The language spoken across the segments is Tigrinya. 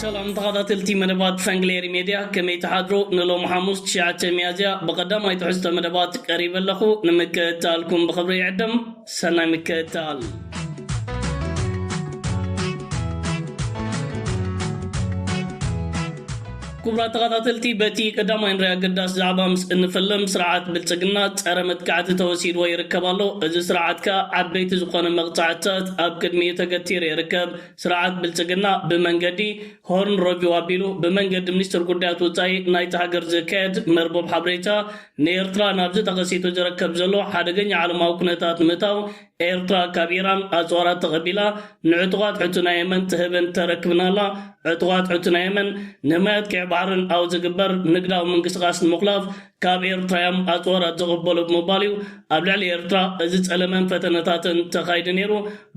ሰላም ተኻታተልቲ መደባት ፈንግሌሪ ሜድያ ከመይ ትሓድሩ ንሎም ሓሙስ ትሽዓተ ሚያዝያ ብቐዳማይ ትሕዝቶ መደባት ቀሪበ ኣለኹ ንምክእታልኩም ብኽብሪ ይዕድም ሰናይ ምክእታል ክቡራት ተኸታተልቲ በቲ ቀዳማይ ንሪ ኣገዳሲ ዛዕባ ምስ እንፍልም ስርዓት ብልፅግና ፀረ መጥቃዕቲ ተወሲድዎ ይርከብ ኣሎ። እዚ ስርዓት ከዓ ዓበይቲ ዝኾነ መቕፃዕትታት ኣብ ቅድሚኡ ተገቲሩ ይርከብ። ስርዓት ብልፅግና ብመንገዲ ሆርን ረቪው ኣቢሉ ብመንገዲ ሚኒስትር ጉዳያት ወፃኢ ናይቲ ሃገር ዝካየድ መርበብ ሓበሬታ ንኤርትራ ናብዚ ተኸሲቱ ዝረከብ ዘሎ ሓደገኛ ዓለማዊ ኩነታት ንምእታው ኤርትራ ካብ ኢራን ኣጽዋራት ተቐቢላ ንዕጡቓት ሑቲ ናይ የመን ትህብን ተረክብን ኣላ። ዕጡቓት ሑቲ ናይ የመን ንማያት ቀይሕ ባሕርን ኣብ ዝግበር ንግዳዊ ምንቅስቓስ ንምኹላፍ ካብ ኤርትራ እዮም ኣጽዋራት ዝቕበሉ ብምባል እዩ ኣብ ልዕሊ ኤርትራ እዚ ጸለመን ፈተነታትን ተኻይዱ ነይሩ።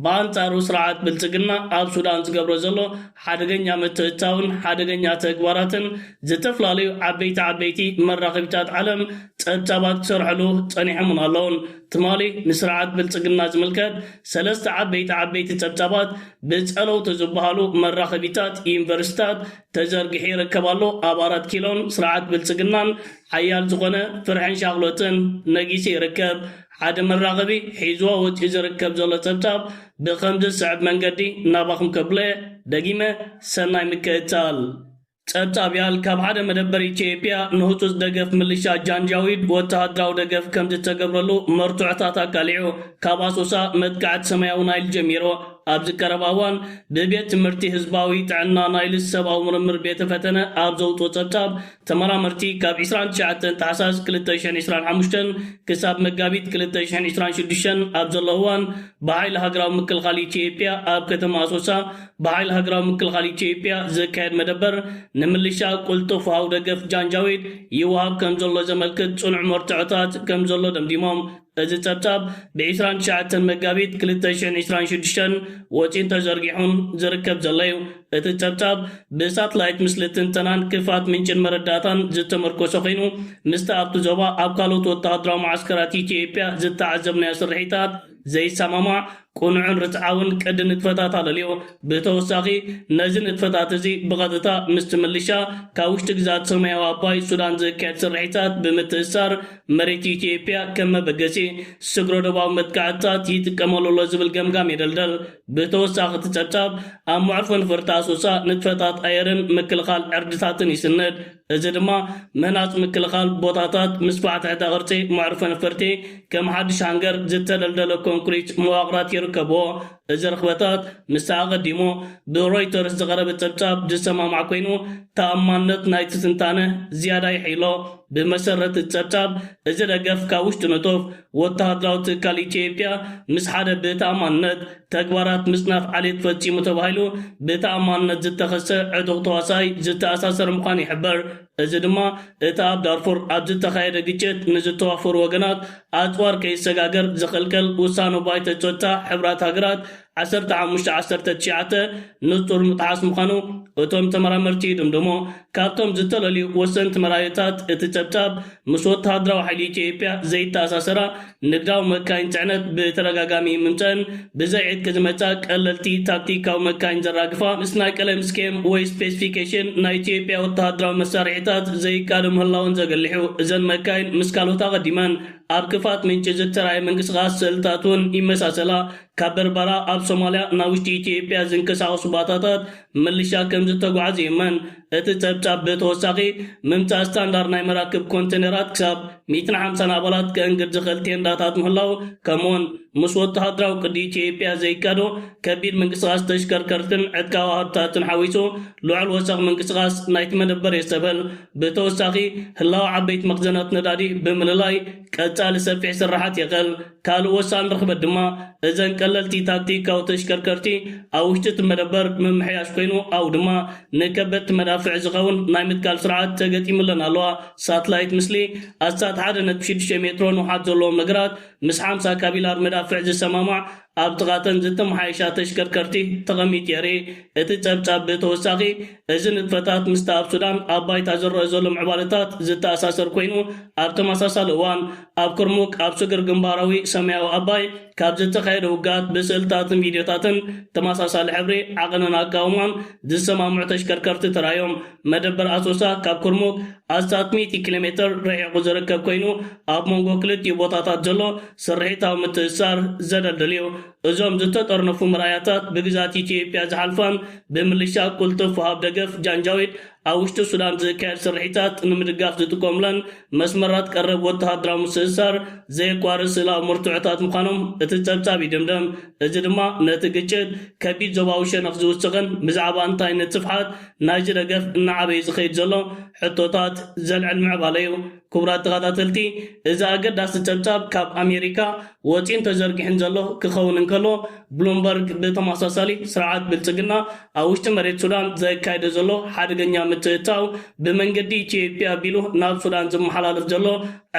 ብኣንጻሩ ስርዓት ብልጽግና ኣብ ሱዳን ዝገብሮ ዘሎ ሓደገኛ ምትእትታውን ሓደገኛ ተግባራትን ዝተፈላለዩ ዓበይቲ ዓበይቲ መራኸቢታት ዓለም ጸብጻባት ክሰርሕሉ ጸኒሖምን ኣለውን። ትማሊ ንስርዓት ብልጽግና ዝምልከት ሰለስተ ዓበይቲ ዓበይቲ ጸብጻባት ብጸለውቲ ዝበሃሉ መራኸቢታት ዩኒቨርሲታት ተዘርጊሑ ይርከብ ኣሎ። ኣብ ኣራት ኪሎን ስርዓት ብልጽግናን ሓያል ዝኾነ ፍርሕን ሻቕሎትን ነጊሱ ይርከብ። ሓደ መራኸቢ ሒዝዎ ወጺኡ ዝርከብ ዘሎ ጸብጻብ ብኸምዚ ዝስዕብ መንገዲ ናባኹም ከብሎ'የ። ደጊመ ሰናይ ምክእታል። ጸብጻብ ያል ካብ ሓደ መደበር ኢትዮጵያ ንህጹጽ ደገፍ ምልሻ ጃንጃዊድ ወተሃደራዊ ደገፍ ከምዝተገብረሉ መርትዖታት ኣቃሊዑ። ካብ ኣሶሳ መጥቃዕቲ ሰማያዊ ናይል ጀሚሩ ኣብዚ ቀረባ እዋን ብቤት ትምህርቲ ህዝባዊ ጥዕና ናይልስ ሰብኣዊ ምርምር ቤተ ፈተነ ኣብ ዘውጽኦ ጸብጻብ ተመራመርቲ ካብ ዕስራን ትሽዓተን ታሕሳስ ክልተ ሽሕን ዕስራን ሓሙሽተን ክሳብ መጋቢት ክልተ ሽሕን ዕስራን ሽዱሽተን ኣብ ዘሎ እዋን ብሓይሊ ሃገራዊ ምክልኻል ኢትዮጵያ ኣብ ከተማ ኣሶሳ ብሓይሊ ሃገራዊ ምክልኻል ኢትዮጵያ ዝካየድ መደበር ንምልሻ ቁልጡፍ ወሃቢ ደገፍ ጃንጃዊድ ይወሃብ ከምዘሎ ዘመልክት ጽኑዕ መርትዖታት ከምዘሎ ደምዲሞም። እዚ ጸብጻብ ብ ዕስራን ትሽዓተን መጋቢት ክልተ ሽሕን ዕስራን ሽዱሽተን ወጺኡን ተዘርጊሑን ዝርከብ ዘሎ'ዩ። እቲ ጸብጻብ ብ ሳትላይት ምስሊ ትንተናን ክፋት ምንጭን መረዳእታን ዝተመርኮሰ ኮይኑ ምስቲ ኣብቲ ዞባ ኣብ ካልኦት ወተሃደራዊ መዓስከራት ኢትዮጵያ ዝተዓዘብናዮ ስርሒታት ዘይሰማማዕ ቅኑዕን ርትዓውን ቅዲ ንጥፈታት ኣለልዮ። ብተወሳኺ፣ ነዚ ንጥፈታት እዚ ብቐጥታ ምስቲ ምልሻ ካብ ውሽጢ ግዝኣት ሰማያዊ ኣባይ፣ ሱዳን፣ ዝካየድ ስርሒታት ብምትእስሳር፣ መሬት ኢትዮጵያ ከም መበገሲ ስግረ-ዶባዊ መጥቃዕትታት ይጥቀመሉ ኣሎ ዝብል ገምጋም የደልደል። ብተወሳኺ እቲ ጸብጻብ፣ ኣብ መዕርፎ ነፈርቲ ኣሶሳ ንጥፈታት ኣየርን ምክልኻል ዕርድታትን ይስንድ። እዚ ድማ ምህናጽ ምክልኻል ቦታታት፣ ምስፋሕ ትሕተ-ቅርጺ መዕርፎ ነፈርቲ፣ ከም ሓድሽ ሃንገር ዝተደልደለ ኮንክሪት መዋቕራት ይርከብዎ። እዚ ርኽበታት ምስቲ ኣቐዲሙ ብሮይተርስ ዝቐረበ ጸብጻብ ዝሰማማዕ ኮይኑ፣ ተኣማንነት ናይቲ ትንታነ ዝያዳ የሐይሎ። ብመሰረት እቲ ጸብጻብ፣ እዚ ደገፍ ካብ ውሽጢ ንጡፍ፣ ወተሃደራዊ ትካል ኢትዮጵያ ምስ ሓደ ብተኣማንነት ተግባራት ምፅናት ዓሌት ፈፂሙ ተባሂሉ ብተኣማንነት ዝተኸሰ ዕጡቕ ተዋሳኣይ ዝተኣሳሰር ምዃኑ ይሕበር። እዚ ድማ እቲ ኣብ ዳርፉር ኣብ ዝተኻየደ ግጭት ንዝተዋፈሩ ወገናት ኣፅዋር ከይሰጋገር ዝኽልክል ውሳነ ባይቶ ፀጥታ ሕቡራት ሃገራት ዓሰርተ ሓሙሽተ ዓሰርተ ትሽዓተ ንጹር ምጥሓስ ምዃኑ እቶም ተመራመርቲ ይድምድሙ። ካብቶም ዝተለልዩ ወሰንቲ መርኣዮታት እቲ ጸብጻብ፣ ምስ ወተሃደራዊ ሓይሊ ኢትዮጵያ ዘይተኣሳሰራ ንግዳዊ መካይን ጽዕነት ብተደጋጋሚ ምምጸእን ብዘይ ዕጥቂ ዝመጻ ቀለልቲ ታክቲካዊ መካይን ዘራግፋ ምስ ናይ ቀለም ስኬም ወይ ስፔሲፊኬሽን ናይ ኢትዮጵያ ወተሃደራዊ መሳርሒታት ዘይቃዶ ምህላወን ዘገልሕ'ዩ። እዘን መካይን ምስ ካልኦት ኣቐዲመን ኣብ ክፋት ምንጪ ዝተራእየ ምንቅስቓስ ስእልታት'ውን ይመሳሰላ። ካብ በርበራ ኣብ ሶማልያ ናብ ውሽጢ ኢትዮጵያ ዝንቀሳቐሱ ባታታት ምልሻ ከምዝተጓዓዙ ይእመን። እቲ ጸብጻብ ብተወሳኺ፣ ምምጻእ ስታንዳርድ ናይ መራክብ ኮንተነራት ክሳብ ሚእትን ሓምሳን ኣባላት ከእንግድ ዝኽእል ቴንዳታት ምህላው፣ ከምኡ'ውን ምስ ወተሃደራዊ ቅዲ ኢትዮጵያ ዘይካዶ ከቢድ ምንቅስቓስ ተሽከርከርትን ዕጥቃዊ ኣሃዱታትን ሓዊሱ ልዑል ወሰኽ ምንቅስቓስ ናይቲ መደበር የስተብህል። ብተወሳኺ፣ ህላወ ዓበይቲ መኽዘናት ነዳዲ ብምልላይ ቀጻሊ ሰፊሕ ስርሓት የኽእል። ካልእ ወሳኒ ርኽበት ድማ እዘን ቀለልቲ ታክቲካዊ ተሽከርከርቲ ኣብ ውሽጢ እቲ መደበር ምምሕያሽ ኮይኑ ኣብኡ ድማ ንከበድቲ መዳፍዕ ዝኸውን ናይ ምትካል ስርዓት ተገጢሙለን ኣለዋ። ሳትላይት ምስሊ፣ ኣስታት ሓደ ነጥቢ ሽዱሽተ ሜትሮ ንውሓት ዘለዎም ነገራት ምስ ሓምሳ ካቢላር መዳፍዕ ዝሰማማዕ ኣብ ጥቓ እተን ዝተመሓየሻ ተሽከርከርቲ ተቐሚጡ የርኢ። እቲ ጸብጻብ ብተወሳኺ፣ እዚ ንጥፈታት ምስቲ ኣብ ሱዳን ኣብ ባይታ ዝረኣ ዘሎ ምዕባለታት ዝተኣሳሰር ኮይኑ፣ ኣብ ተመሳሳሊ እዋን ኣብ ኩርሙክ ኣብ ስግር ግንባራዊ ሰማያዊ ኣባይ ካብ ዝተኻየደ ውግኣት ብስእልታትን ቪድዮታትን ተመሳሳሊ ሕብሪ ዓቐንን ኣቃውማን ዝሰማምዑ ተሽከርከርቲ ተራእዮም። መደበር ኣሶሳ ካብ ኩርሙክ ኣስታት ሚእቲ ኪሎሜተር ርሒቑ ዝርከብ ኮይኑ፣ ኣብ መንጎ ክልቲኡ ቦታታት ዘሎ ስርሒታዊ ምትእስሳር ዘደልድል እዩ። እዞም ዝተጠርነፉ መርኣያታት ብግዝኣት ኢትዮጵያ ዝሓልፋን ብምልሻ ቁልጥፍ ወሃብ ደገፍ፣ ጃንጃዊድ፣ ኣብ ውሽጢ ሱዳን ዝካየድ ስርሒታት ንምድጋፍ ዝጥቀሙለን መስመራት ቀረብ ወተሃደራዊ ምስእሳር ዘየቋርጽ ስእላዊ መርትዖታት ምዃኖም እቲ ጸብጻብ ይድምድም። እዚ ድማ ነቲ ግጭት ከቢድ ዞባዊ ሸነኽ ዝውስኽን ብዛዕባ እንታይነት ስፍሓት ናይዚ ደገፍ እናዓበየ ዝኸይድ ዘሎ ሕቶታት ዘልዕል ምዕባለ'ዩ። ክቡራት ተኻታተልቲ እዚ ኣገዳሲ ጸብጻብ ካብ ኣሜሪካ ወጺኡን ተዘርጊሑን ዘሎ ክኸውን እንከሎ ብሉምበርግ ብተመሳሳሊ ስርዓት ብልጽግና ኣብ ውሽጢ መሬት ሱዳን ዘካይዶ ዘሎ ሓደገኛ ምትእትታው ብመንገዲ ኢትዮጵያ ኣቢሉ ናብ ሱዳን ዝመሓላለፍ ዘሎ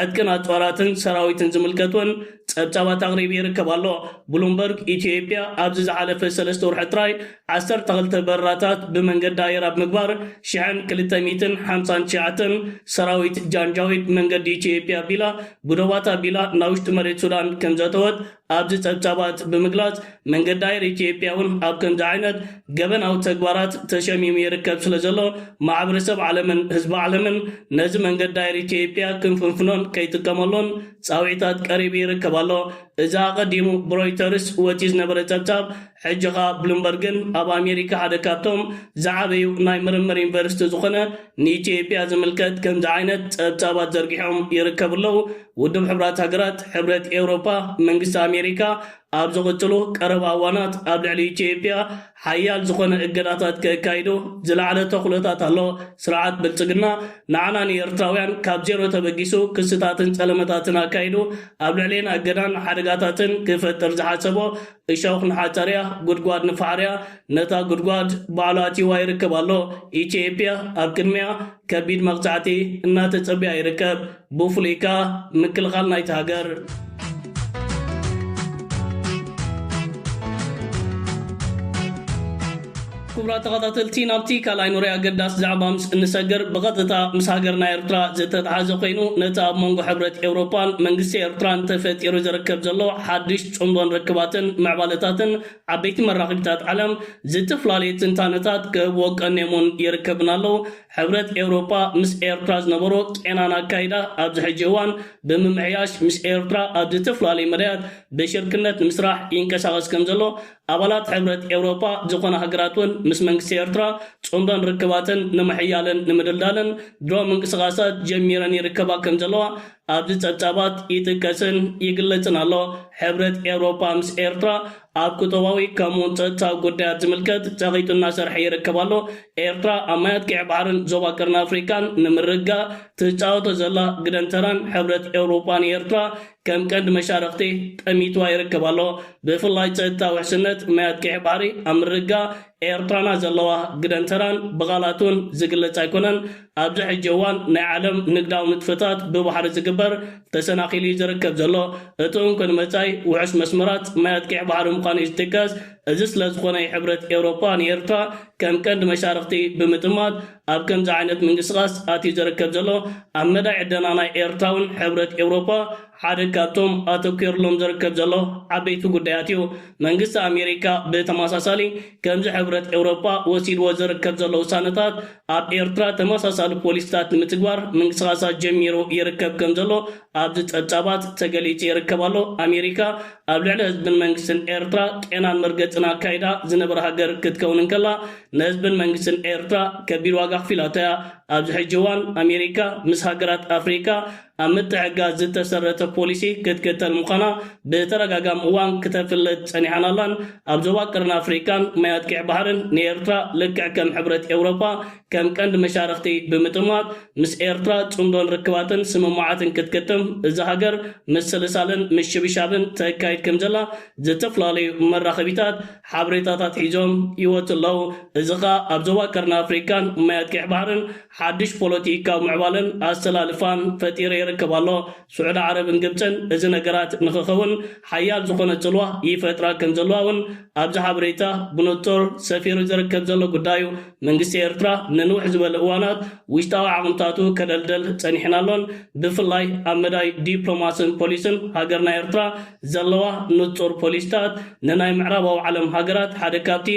ዕጥቅን ኣጽዋራትን ሰራዊትን ዝምልከት ውን ጸብጻባት ኣቕሪቡ ይርከብ ኣሎ። ብሉምበርግ ኢትዮጵያ ኣብዚ ዝሓለፈ ሰለስተ ውርሒ ጥራይ ዓሰርተ ክልተ በረራታት ብመንገዲ ኣየር ኣብ ምግባር ሽሕን ክልተ ሚእትን ሓምሳን ትሽዓተን ሰራዊት ጃንጃዊድ መንገዲ ኢትዮጵያ ኣቢላ ብዶባት ኣቢላ ናብ ውሽጢ መሬት ሱዳን ከምዘእተወት ኣብዚ ጸብጻባት ብምግላጽ መንገዲ ኣየር ኢትዮጵያ እውን ኣብ ከምዚ ዓይነት ገበናዊ ተግባራት ተሸሚሙ ይርከብ ስለዘሎ ማሕበረሰብ ዓለምን ህዝቢ ዓለምን ነዚ መንገዲ ኣየር ኢትዮጵያ ክንፍንፍኖን ከይጥቀመሉን ጻውዒታት ቀሪቡ ይርከብ ኣሎ። እዚ ኣቐዲሙ ብሮይተርስ ወጺኡ ዝነበረ ጸብጻብ ሕጂ ከኣ ብሉምበርግን ኣብ ኣሜሪካ ሓደ ካብቶም ዝዓበዩ ናይ ምርምር ዩኒቨርሲቲ ዝኾነ ንኢትዮጵያ ዝምልከት ከምዚ ዓይነት ጸብጻባት ዘርጊሖም ይርከቡ ኣለዉ። ውድብ ሕቡራት ሃገራት፣ ሕብረት ኤውሮጳ፣ መንግስቲ ኣሜሪካ ኣብ ዝቕጽሉ ቀረባ እዋናት ኣብ ልዕሊ ኢትዮጵያ ሓያል ዝኾነ እገዳታት ከካይዱ ዝለዓለ ተኽሎታት ኣሎ። ስርዓት ብልጽግና ንዓና ንኤርትራውያን ካብ ዜሮ ተበጊሱ ክስታትን ጸለመታትን ኣካይዱ ኣብ ልዕሌና እገዳን ሓደጋታትን ክፈጥር ዝሓሰቦ እሾኽ ንሓፀርያ ጉድጓድ ንፋዕርያ ነታ ጉድጓድ ባዕሉ ኣትይዋ ይርከብ ኣሎ። ኢትዬጵያ ኣብ ቅድሚኣ ከቢድ መቕፃዕቲ እናተፀበያ ይርከብ ብፍሉይ ከዓ ምክልኻል ናይታ ሃገር። ክቡራት ተኸታተልቲ ናብቲ ካልኣይ ኑሪ ኣገዳሲ ዛዕባ ምስ እንሰግር ብቐጥታ ምስ ሃገርና ኤርትራ ዝተተሓዘ ኮይኑ ነቲ ኣብ መንጎ ሕብረት ኤውሮፓን መንግስቲ ኤርትራን ተፈጢሩ ዝርከብ ዘሎ ሓዱሽ ጽምዶን ርክባትን ምዕባለታትን ዓበይቲ መራኽቢታት ዓለም ዝትፍላለዩ ትንታነታት ክህብዎ ቀንዮምውን ይርከብና ኣለው ሕብረት ኤውሮፓ ምስ ኤርትራ ዝነበሮ ቄናን ኣካይዳ ኣብዚ ሕጂ እዋን ብምምሕያሽ ምስ ኤርትራ ኣብ ዝትፍላለዩ መዳያት ብሽርክነት ንምስራሕ ይንቀሳቐስ ከምዘሎ ኣባላት ሕብረት ኤውሮጳ ዝኾና ሃገራት ውን ምስ መንግስቲ ኤርትራ ጽምዶን ርክባተን ንምሕያልን ንምድልዳልን ድሮ ምንቅስቓሳት ጀሚረን ይርከባ ከም ዘለዋ ኣብዚ ጸብጻባት ይጥቀስን ይግለጽን ኣሎ። ሕብረት ኤውሮጳ ምስ ኤርትራ ኣብ ቁጠባዊ ከምኡ ውን ጸጥታዊ ጉዳያት ዝምልከት ጸቒጡ እናሰርሐ ይርከብ ኣሎ። ኤርትራ ኣብ ማያት ቀይሕ ባሕርን ዞባ ቀርኒ ኣፍሪቃን ንምርግጋእ ትጻወቶ ዘላ ግደን ተራን ሕብረት ኤውሮጳ ንኤርትራ ከም ቀንዲ መሻርኽቲ ጠሚትዋ ይርከብ ኣሎ። ብፍላይ ጸጥታ ውሕስነት ማያት ቀይሕ ባሕሪ ኣብ ምርግጋእ ኤርትራና ዘለዋ ግደን ተራን ብቓላት'ውን ዝግለጽ ኣይኮነን። ኣብዚ ሕጂ እዋን ናይ ዓለም ንግዳዊ ንጥፈታት ብባሕሪ ዝግበር ተሰናኺሉ'ዩ ዝርከብ ዘሎ። እቲ እንኮ ንመጻኢ ውሑስ መስመራት ማያት ቀይሕ ባሕሪ ምዃኑ'ዩ ዝጥቀስ። እዚ ስለዝኾነ'ዩ ሕብረት ኤውሮጳ ንኤርትራ ከም ቀንዲ መሻርኽቲ ብምጥማት፣ ኣብ ከምዚ ዓይነት ምንቅስቓስ ኣትዩ ዝርከብ ዘሎ ኣብ መዳይ ዕደና ናይ ኤርትራውን ሕብረት ኤውሮጳ ሓደ ካብቶም ኣተኲርሎም ዝርከብ ዘሎ ዓበይቲ ጉዳያት እዩ። መንግስቲ ኣሜሪካ ብተመሳሳሊ ከምዚ ሕብረት ኤውሮጳ ወሲድዎ ዝርከብ ዘሎ ውሳነታት ኣብ ኤርትራ ተመሳሳሊ ፖሊሲታት ንምትግባር ምንቅስቓሳት ጀሚሩ ይርከብ ከም ዘሎ ኣብዚ ጸብጻባት ተገሊጹ ይርከብ ኣሎ። ኣሜሪካ ኣብ ልዕሊ ህዝብን መንግስትን ኤርትራ ቄናን መርገጽን ኣካይዳ ዝነበረ ሃገር ክትከውን እንከላ ንህዝብን መንግስትን ኤርትራ ከቢድ ዋጋ ኣኽፊላቶ'ያ። ኣብዚ ሕጂ እዋን ኣሜሪካ ምስ ሃገራት ኣፍሪቃ ኣብ ምትሕግጋዝ ዝተሰረተ ፖሊሲ ክትክተል ምዃና ብተደጋጋሚ እዋን ክተፍልጥ ጸኒሓን ኣላን። ኣብ ዞባ ቀርኒ ኣፍሪቃን ማያት ቂዕ ባሕርን ንኤርትራ ልክዕ ከም ሕብረት ኤውሮጳ ከም ቀንዲ መሻርኽቲ ብምጥማት ምስ ኤርትራ ጽምዶን ርክባትን ስምምዓትን ክትክትም እዛ ሃገር ምስልሳልን ምሽብሻብን ተካይድ ከምዘላ ዝተፈላለዩ መራኸቢታት ሓበሬታታት ሒዞም ይወጹ ኣለዉ። እዚ ከኣ ኣብ ዞባ ቀርኒ ኣፍሪቃን ማያት ቀይሕ ባሕርን ሓድሽ ፖለቲካዊ ምዕባለን ኣሰላልፋን ፈጢረ ይርከብ ኣሎ። ስዑዲ ዓረብን ግብጽን እዚ ነገራት ንኽኸውን ሓያል ዝኾነ ጽልዋ ይፈጥራ ከም ዘለዋ እውን ኣብዚ ሓበሬታ ብንጹር ሰፊሩ ዝርከብ ዘሎ ጉዳይ እዩ። መንግስቲ ኤርትራ ንንውሕ ዝበለ እዋናት ውሽጣዊ ዓቕምታቱ ከደልድል ጸኒሑን ኣሎን። ብፍላይ ኣብ መዳይ ዲፕሎማስን ፖሊስን ሃገርና ኤርትራ ዘለዋ ንጹር ፖሊሲታት ንናይ ምዕራባዊ ዓለም ሃገራት ሓደ ካብቲ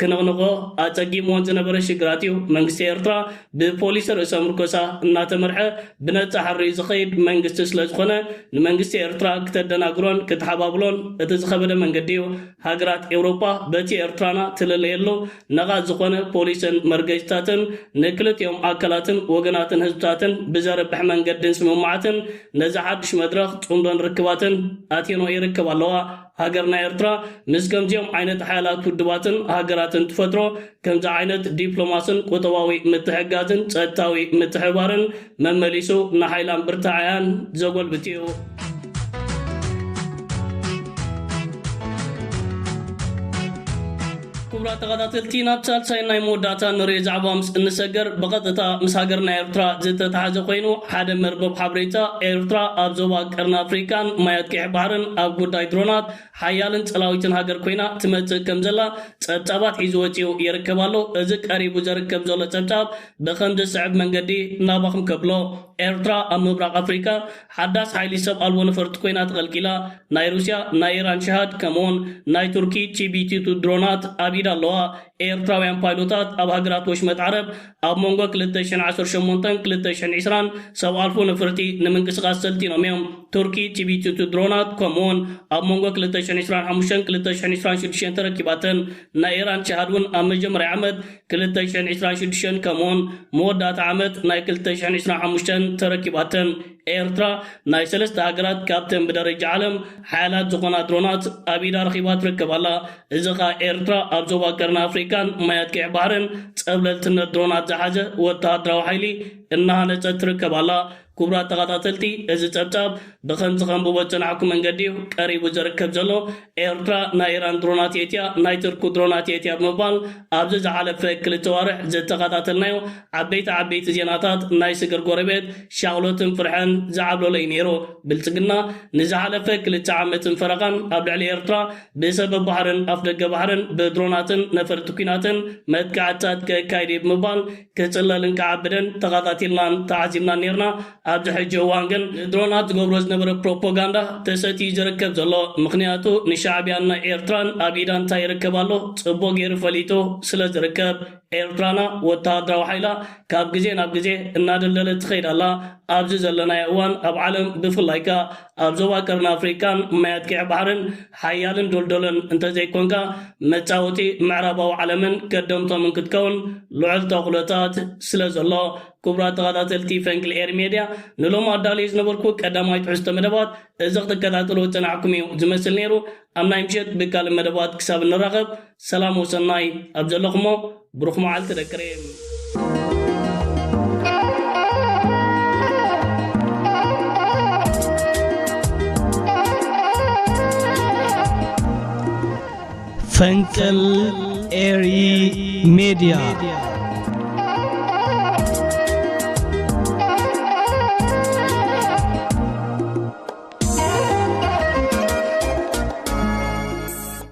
ክንቕንቖ ኣጸጊምወን ዝነበረ ሽግራት እዩ። መንግስቲ ኤርትራ ብፖሊሲ ርእሰ ምርኮሳ እናተመርሐ ብነጻ ሕርዩ ዝኸይድ መንግስቲ ስለዝኾነ ንመንግስቲ ኤርትራ ክተደናግሮን ክትሓባብሎን እቲ ዝኸበደ መንገዲ እዩ። ሃገራት ኤውሮጳ በቲ ኤርትራና ትልለየሉ ነቓጽ ዝኾነ ፖሊስን መርገጺታትን ንክልቲኦም ኣካላትን ወገናትን ህዝብታትን ብዘርብሕ መንገዲን ስምምዓትን ነዚ ሓድሽ መድረኽ ጽምዶን ርክባትን ኣትየንኦ ይርከባ ኣለዋ። ሃገርና ኤርትራ ምስ ከምዚኦም ዓይነት ሓያላት ውድባትን ሃገራትን ትፈጥሮ ከምዚ ዓይነት ዲፕሎማስን ቁጠባዊ ምትሕግጋዝን ጸጥታዊ ምትሕብባርን መመሊሱ ንሓይላን ብርታዐያን ዘጎልብት እዩ። ክቡራት ተኸታተልቲ ናብ ሳልሳይ ናይ መወዳእታ ንሪኦ ዛዕባ ምስ እንሰገር ብቐጥታ ምስ ሃገርና ኤርትራ ዝተተሓዘ ኮይኑ ሓደ መርበብ ሓበሬታ ኤርትራ ኣብ ዞባ ቀርኒ ኣፍሪቃን ማያት ቀይሕ ባሕርን ኣብ ጉዳይ ድሮናት ሓያልን ጸላዊትን ሃገር ኮይና ትመጽእ ከም ዘላ ጸብጻባት ሒዙ ወጺኡ ይርከብ ኣሎ። እዚ ቀሪቡ ዘርከብ ዘሎ ጸብጻብ ብኸምዚ ዝስዕብ መንገዲ ናባኹም ከብሎ፣ ኤርትራ ኣብ ምብራቕ ኣፍሪቃ ሓዳስ ሓይሊ ሰብ ኣልቦ ነፈርቲ ኮይና ተቐልቂላ፣ ናይ ሩስያ ናይ ኢራን ሸሃድ ከምኡውን ናይ ቱርኪ ቺቢቲቱ ድሮናት ኣብ ኢዳ ኣለዋ፣ ኤርትራውያን ፓይሎታት ኣብ ሃገራት ወሽመጥ ዓረብ ኣብ መንጎ ክልተ ሽሕን ዓሰርተ ሸሞንተን ክልተ ሽሕን ዒስራን ሰብ ኣልፎ ነፍርቲ ንምንቅስቓስ ሰልጢኖም እዮም፣ ቱርኪ ቺቢቲቱ ድሮናት ከምኡውን ኣብ መንጎ ክልተ ሽሕን ዒስራን ሓሙሽተን ክልተ ሽሕን ዒስራን ሽዱሽተን ተረኪባተን። ናይ ኢራን ጂሃድ ውን ኣብ መጀመርያ ዓመት ክልተ ሽሕን ዕስራን ሽዱሽተን ከምኡውን መወዳእታ ዓመት ናይ ክልተ ሽሕን ዕስራን ሓሙሽተን ተረኪባተን። ኤርትራ ናይ ሰለስተ ሃገራት ካብተን ብደረጃ ዓለም ሓያላት ዝኾና ድሮናት ኣብ ኢዳ ረኺባ ትርከብ ኣላ። እዚ ከኣ ኤርትራ ኣብ ዞባ ቀርኒ ኣፍሪቃን ማያት ቀይሕ ባሕርን ጸብለልትነት ድሮናት ዝሓዘ ወተሃደራዊ ሓይሊ እናሃነጸት ትርከብ ኣላ። ክቡራት ተኸታተልቲ እዚ ጸብጻብ ብኸምዚ ከንብቦ ዝጸናሕኩ መንገዲ እዩ ቀሪቡ ዝርከብ ዘሎ። ኤርትራ ናይ ኢራን ድሮናት የእትያ ናይ ትርኩ ድሮናት የእትያ ብምባል ኣብዚ ዝሓለፈ ክልተ ኣዋርሕ ዝተኸታተልናዮ ዓበይቲ ዓበይቲ ዜናታት ናይ ስግር ጎረቤት ሻቕሎትን ፍርሕን ዝዓብለሎ እዩ ነይሩ። ብልጽግና ንዝሓለፈ ክልተ ዓመትን ፈረቓን ኣብ ልዕሊ ኤርትራ ብሰበብ ባሕርን ኣፍደገ ባሕርን ብድሮናትን ነፈርቲ ኲናትን መጥቃዕትታት ከካይድ እየ ብምባል ክጽለል እንከዓብደን ተኻታቲልናን ተዓዚብናን ኔርና። ኣብዚ ሕጂ እዋን ግን ድሮናት ዝገብሮ ዝነበረ ፕሮፖጋንዳ ተሰትዩ ዝርከብ ዘሎ። ምኽንያቱ ንሻዕብያን ናይ ኤርትራን ኣብ ኢዳ እንታይ ይርከብ ኣሎ ጽቡቕ ጌሩ ፈሊጡ ስለ ዝርከብ። ኤርትራና ወተሃደራዊ ሓይላ ካብ ግዜ ናብ ግዜ እናደልደለት ትኸይድ ኣላ። ኣብዚ ዘለናዮ እዋን ኣብ ዓለም ብፍላይ ከኣ ኣብ ዞባ ቀርኒ ኣፍሪቃ ማያት ቂዕ ባሕርን ሓያልን ዶልዶሎን እንተዘይኮንካ መጻወቲ ምዕራባዊ ዓለምን ከደምቶምን ክትከውን ልዑል ተኽሎታት ስለዘሎ። ክቡራት ተኻታተልቲ ፈንቅል ኤሪ ሜድያ ንሎሚ ኣዳልየ ዝነበርኩ ቀዳማይ ትሕዝቶ መደባት እዚ ክትከታተልዎ ዝጸናሕኩም እዩ ዝመስል ነይሩ። ኣብ ናይ ምሸት ብካልእ መደባት ክሳብ እንራኸብ። ሰላም ወሰናይ ኣብ ዘለኹሞ ብሩኽ መዓልቲ ደቂ ሬም። ፈንቅል ኤሪ ሜድያ